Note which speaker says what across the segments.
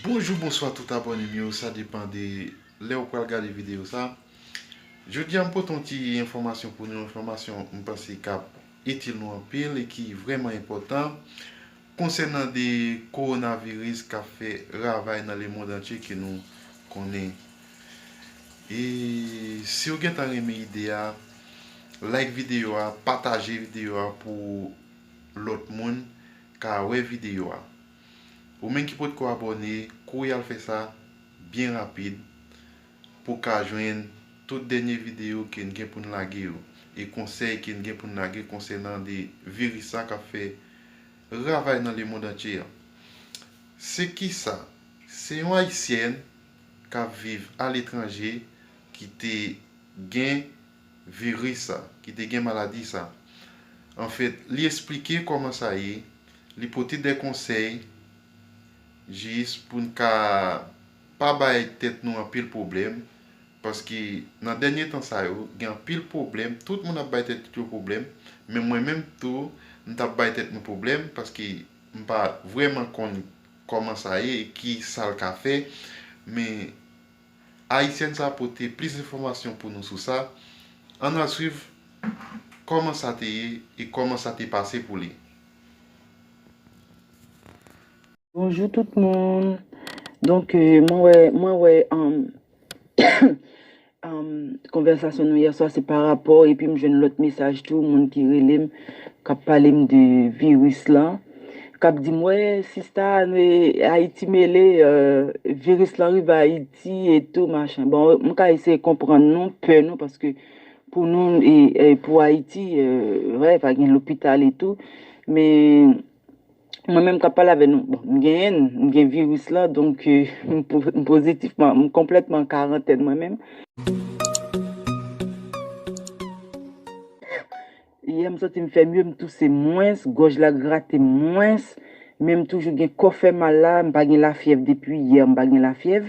Speaker 1: Bonjou bonswa tout abòne m yo sa depan de lè ou pral gade videyo sa Jodi a m pote yon ti enfòmasyon pou nou enfòmasyon m panse k ap itil nou anpil e ki vrèman enpòtan konsènan de kowonaviris k ap fè ravay nan lemond antye ke nou konnen E siw gentan renmen ide a like video a pataje video a pou lot moun ka we video a ou menm ki potko abone kouri al fe sa byen rapid pou ka jwenn tout denye video ken gen poun lage yo e konsey ken gen poun lage konsenan de viris sa kap fe ravay nan le mond antye a se kisa se yon ayisyèn k ap viv aletranje ki te gen viris sa, ki te gen maladi sa. Anfèt, li esplike kòman sa ye, li pote de konsèy jis pou n ka pa bay tèt nou anpil pwoblèm, paske nan dènye tan sa yo, gen anpil pwoblèm, tout moun ap bay tèt yo pwoblèm, men mwen menm tou, m t ap bay tèt mwen pwoblèm, paske m pa vrèman konn. Koman sa ye e ki sal ka fè men Ayisyèn sa pote plis enfòmasyon pou nou sou sa ann al swiv Koman sa te ye e Koman sa te pase pou li.
Speaker 2: Bonjou tout moun donk mwen wè mwen wè Konvèsasyon nou yè swa se pa rapò epi m jwenn lòt mesaj tou moun ki rele m k ap pale m de viris lan k ap di m wè sista ayiti mele viris lan rive ayiti etou machin bon m ka eseye konprann nou pè nou paske pou nou pou ayiti vre pa gen lopital etou men Mwen menm kap pale avè nou, bon, m genyen l, m gen viris la, donk m pozitif, m konplètman an karantèn mwen menm. Yè m santi m fè mye, m touse mwens, gòj la grate m mwens, men m toujou gen kò fè mal la, m pa gen lafyèv depi yè, m pa gen lafyèv.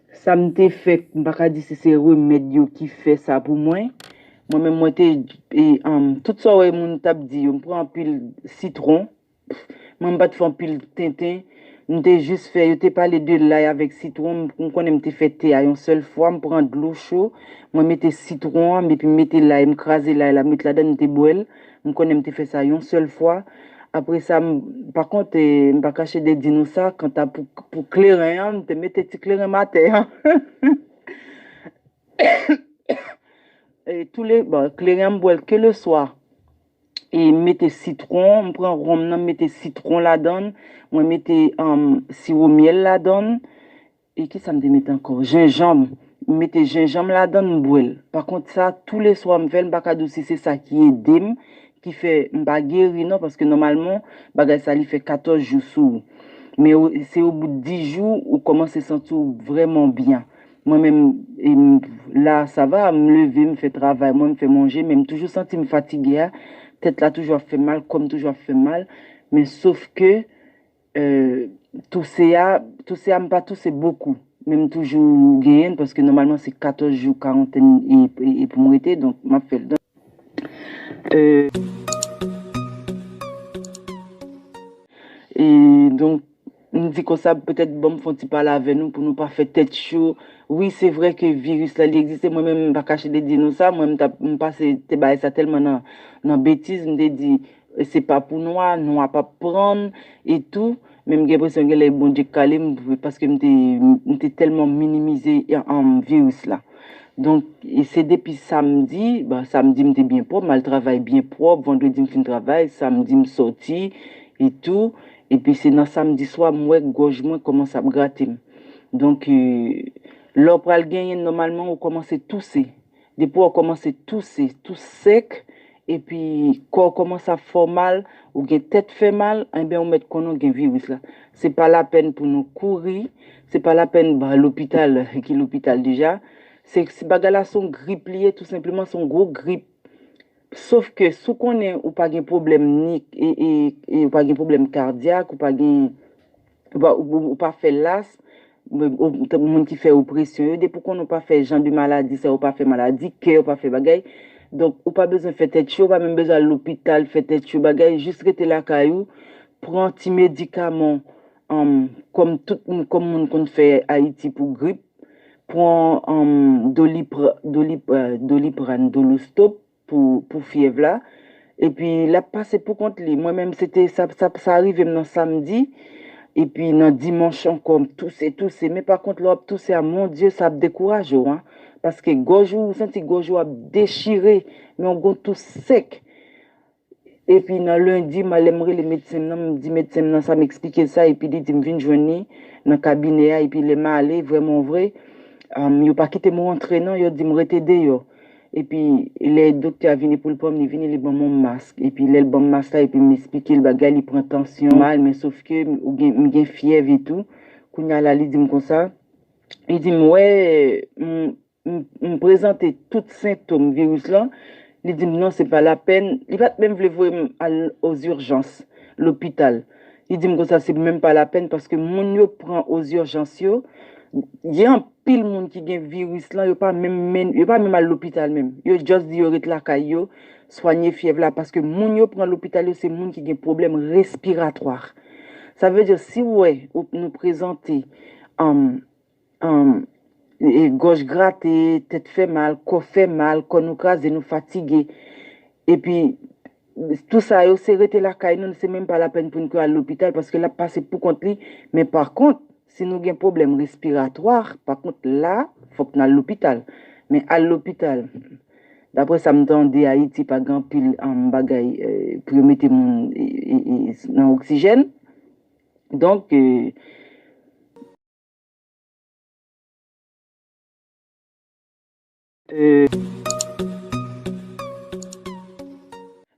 Speaker 2: Sa m te fè, m pa ka di si se remèd yo ki fè sa pou mwen. Mwen menm mwen te, tout sa w wè moun t ap di yo, m pran anpil sitwon. Mwen m pa t fè anpil tenten. M te jis fè, yo te pale de lay avèk sitwon, m konnen m te fè te a yon sèl fwa. M pran dlo cho, mwen mete sitwon an epi m mete lay, m kraze lay la, m met ladann m te bwè l. M konnen m te fè sa yon sèl fwa. Apre sa, pa kont, m pa kache de di nou sa, kanta pou kleren an, m te mete ti kleren m atè. Kleren an m bwè l ke le swa. E m mete sitwon, m pran wonm nan, m mete sitwon ladan l, mwen mete siwo myèl ladan l. E kisa m te met ankò? Jenjanm! M mete jenjanm ladan l m bwè l. Pa kont sa tou le swa m fè l m pa ka di w si se sa ki ede m ki fè m pa geri non paske nòmalman bagay sa li fè 14 jou sou ou. Men se o bout 10 jou ou kòmanse santi w vrèman byen. Mwen menm la sa va m leve m fè travay mwen m fè manje men m toujou santi m fatige a, tèt la toujou ap fè m mal, kò m toujou ap fè m mal men sof ke Touse a, touse a m pa touse bokou men m toujou genyen l paske nòmalman se 14 jou karantèn e pou m rete donk m ap fè l. Donk m di konsa petèt banm fon ti pale avè nou pou nou pa fè tèt cho. Wi se vre ke viris la li egziste mwen menm m pa kache te di nou sa mwen m pase te bay sa tèlman nan betiz m te di Se pa pou nwa, nwa pap prann e tou, men m gen enpresyon gen lè Bondye k kale m paske m te m te tèlman minimize viris la. Donk se depi samdi, bon samdi m te byen pwòp, m al travay byen pwòp, vandredi m fin travay, samdi m sòti e tou, epi se nan samdi swa m wè gòj mwen kòmanse ap grate m. Donk lè w pral genyen nòmalman ou kòmanse touse. Depi w kòmanse touse, tou sèk, epi kò w kòmanse ap fè w mal, ou gen tèt fè mal, enben ou mèt konnen w gen viris la. Se pa lapèn pou nou kouri, se pa lapèn ba lopital ki lopital deja. Se bagay la se yon grip li ye tou senpleman, se yon gwo grip. Sof ke si w konnen ou pa gen pwoblèm ni, ou pa gen pwoblèm kadyak, ou pa gen Ou pa fè lasm, moun ki fè opresyon yo, depi ou konnen ou pa fè jan de maladi sa yo, ou pa fè maladi kè, ou pa fè bagay, donk ou pa bezwen fè tèt cho, ou pa menm bezwen al lopital fè tèt cho bagay, jis rete lakay ou, pran ti medikaman w, kòm tout moun, kòm moun konn fè Ayiti pou grip, pran Doliprane, Dolostop, pou pou fyèv la epi lap pase pou kont li mwen menm se te sa sa rivem nan samdi epi nan dimanch ankò m touse touse men pa kont lè wap touse a mon Dye sa ap dekouraje w an paske gòj ou ou santi gòj ou ap dechire men w gon tous sèk epi nan lendi m lèm rele medsen m nan m di medsen m nan sa m eksplike l sa epi li di m vin jwenn li nan kabinè a epi lè m ale vrèmanvre yo pa kite m rantre non yo di m rete deyò Epi lè doktè a vini poul pranm li vini li banm yon mask epi lèl banm mask la epi m esplikel bagay li pran tansyon mal men sof ke m gen fyèv etou kounya la li dim konsa li dim wè m prezante tout sentom viris lan li dim non se pa lapèn li pat menm vle voye m al ozirjans lopital li dim konsa se menm pa lapèn paske moun yo pran ozirjans yo gen anpil Pil moun ki gen viris lan yo pa menm menn yo pa menm al lopital menm yo just di yo ret lakay yo swanye fyèv la paske moun yo pran lopital yo se moun ki gen pwoblèm respiratwa sa vle di si w wè ou nou prezante um um gòj grate tèt fè mal kò fè mal kò nou kraze nou fatige epi Tout sa yo se rete lakay nou, se menm pa lapèn pou n ke al lopital paske l ap pase pou kont li. Men pa kont, si nou gen pwoblèm respiratwa, pa kont la, fòk n al lopital. Men al lopital, dapre sa m tande Ayiti pa gen anpil bagay pou yo mete moun nan oksijèn. Donk.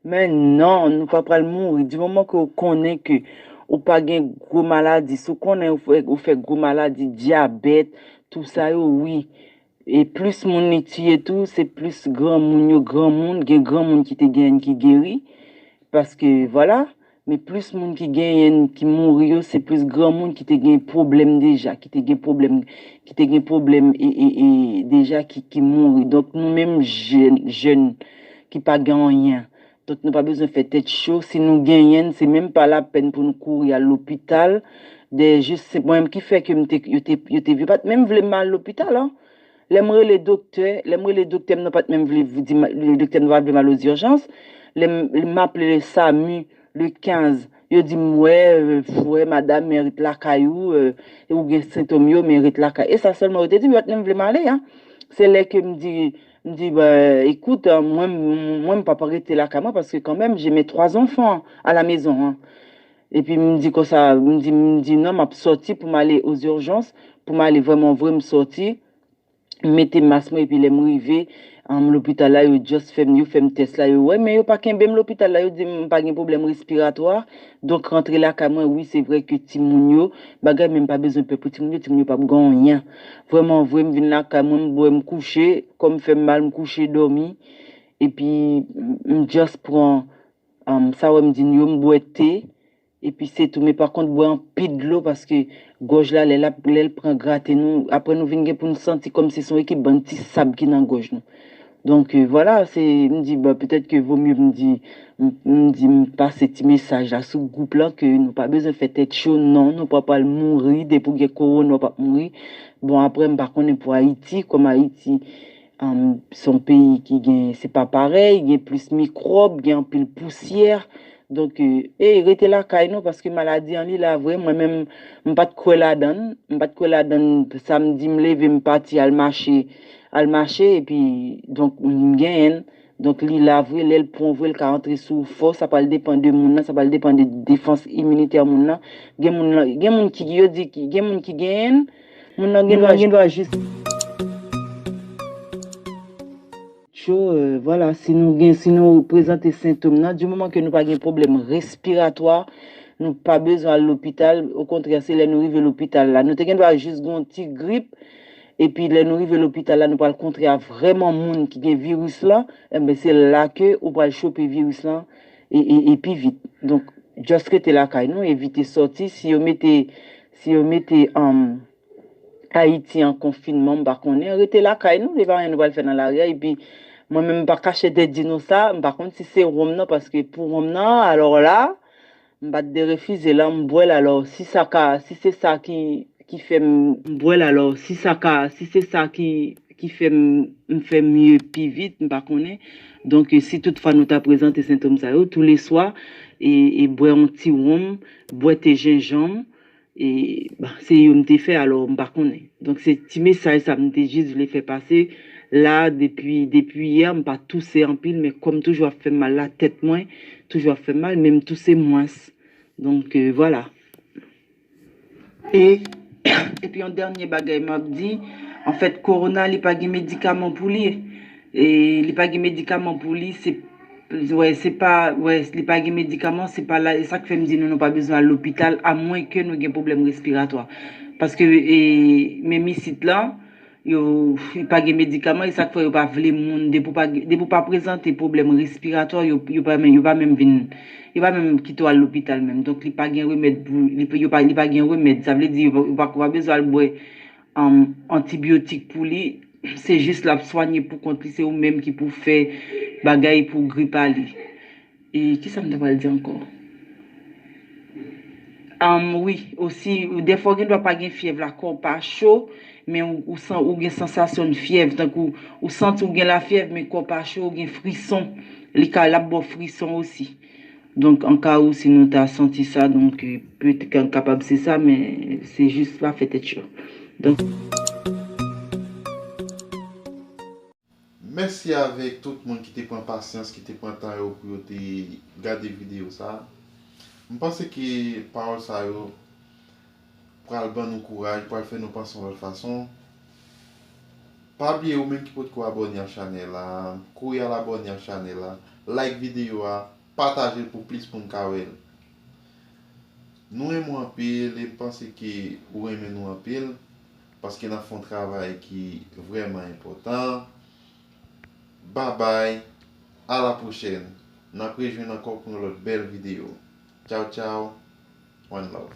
Speaker 2: Men non, nou pa pral mouri. Di moman ke ou konnen ke ou pa gen gwo maladi. Si ou konnen ou fè gwo maladi, dyabèt, tou sa yo, wi. E plis moun li tiye tou, se plis granmoun yo. Granmoun, gen granmoun ki te genyen ki geri. Paske, vwala. Men plis moun ki genyenn ki mouri yo se plis granmoun ki te gen pwoblèm deja, ki te gen pwoblèm, ki te gen pwoblèm e deja ki mouri. Donk nou menm jèn, jèn ki pa gen anyen, donk nou pa bezwen fè tèt cho, si nou genyenn se menm pa lapèn pou nou kouri al lopital, dèyè jis se mwen menm ki fè ke m te, yo te, yo te, yo pat menm vle m al lopital an. Lè m rele doktè, lè m rele doktè m nan pa t menm vle di m, le doktè m nan pa t vle m al ozijans, lè m, m aple le Samu, le 15, yo di m wè, wè madam men ret lakay ou, ou gen sentom yo men ret lakay. E sa sèlman yo te di m, yo pa t menm vle m ale a. Se lè ke m di, m di ba écoute, mwen m, mwen m pap rete lakay mwen paske kanmenm j'ai mes 3 enfants à la maison an. Epi m di konsa, m di, m di non m ap sòti pou m ale aux urgences, pou m ale vrèman vre m sòti, m mete mas mwen epi lè m rive anm lopital la yo just fè m, yo fè m tès la yo wè men yo pa kenbe m lopital la yo di m m pa gen pwoblèm respiratwa donk rantre lakay mwen, wi se vrè ke timoun yo bagay men m pa bezwen pè pou timoun yo, timoun yo p ap gen anyen. Vrèman vre m vin lakay mwen m bwè m kouche, kò m fè m mal m kouche dòmi epi m just pran. Humm sa wèm di nou yo m bwè thé epi se tou men pa kont bwè anpil dlo paske gòj la lè lap lèl pran grate nou aprè nou vin gen pou nou santi kòm si se yon ekip bann ti sab ki nan gòj nou donk vwala se m di bon petèt ke vo mye m di m di m pase ti mesaj la sou gwoup lan ke nou pa bezwen fè tèt cho non nou pa pwal mouri depi w gen kowona w pap mouri bon aprè m pa konnen pou ayiti kòm ayiti Son peyi ki gen se pa parèy, gen plis mikròb, gen anpil pousyè. Donk ey rete lakay nou paske maladi an li la vre mwen menm m pat kwè ladann, m pat kwè ladann samdi m leve m pati al mache, al mache epi donk m genyenn, donk li la vre lèl pran w vre l ka antre sou w fò sa pral depan de moun nan, sa pral depan de defans iminitè moun nan, gen moun gen moun ki yo di gen moun ki genyenn. Moun nan gen dwa jis tjo vwala si nou gen si nou prezante sentom nan di moman ke nou pa gen pwoblèm respiratwa nou pa bezwen al lopital okontrè se lè nou rive lopital la nou te gen dwa jis gon ti grip epi lè nou rive lopital la nou pral kontre a vrèman moun ki gen viris lan enben se la ke ou pral chope viris lan e pi vit donk just rete lakay nou evite sòti si yo mete Si yo mete Ayiti an konfinman m pa konnen, rete lakay nou, e pa anyen nou pral fè nan lari a, epi mwen menm m pa kache tèt di nou sa, m pa konn si se wonm nan paske pou wonm nan alò la m pa t derefize l an m bwè l alò si sa ka si se sa ki fè m bwè l alò si sa ka si se sa ki fè m m fè mye pi vit m pa konnen donk si tout fwa nou ta prezante sentom sa yo touleswa e bwè yon ti wonm. Bwè te jenjanm e se yo m te fè alò m pa konnen. Donk se ti mesaj sa m te jis vle fè pase la depi depi yè m pa touse anpil men kòm toujou ap fèm mal la tèt mwen toujou ap fèm mal men m touse mwens donk vwala. E epi yon dènye bagay map di, anfèt korona li pa gen medikaman pou li, li pa gen medikaman pou li, se wè se pa wè li pa gen medikaman se pa la e sak fèm di nou nou pa bezwen al lopital amwenke nou gen pwoblèm respiratwa paske e menm isit lan Yo pa gen medikaman e sak fè yo pa vle moun depi w pa prezante pwoblèm respiratwa yo pa menm yo pa menm vin yo pa menm kite w al lopital menm donk li pa gen remèd pou yo pa li pa gen remèd sa vle di yo pa bezwen al bwè antibyotik pou li se jis l ap swanye pou kont li se ou menm ki pou fè bagay pou grip a li. E kisa m ta pral di ankò? Anm wi, osi dèfwa w gen dwa pa gen fyèv la kò w pa cho, men ou gen sansasyon fyèv, tankou ou santi w gen lafyèv men kò w pa cho, ou gen frison, li ka lap ba w frison osi. Donk an ka ou si nou ta santi sa, donk petèt ke kapab se sa men se jis pa fè tèt cho.
Speaker 1: Mèsi avèk tout moun ki te pran pasyans, ki te pran tan yo pou yo te gade videyo sa a. M panse ke pawòl sa yo pral ban nou kouraj, pral fè nou panse yon lòt fason. Pa bliye ou menm ki potko abòne ak chanèl la, kouri al abòne ak chanèl la, like videyo a, pataje l pou plis moun ka wè l. Nou renmen w anpil e m panse ke ou renmen nou anpil. Paske nap fon travay ki vreman enpotan babay ala pwochèn nap rejwenn ankò pou yon lòt bèl video tchaw tchaw one love.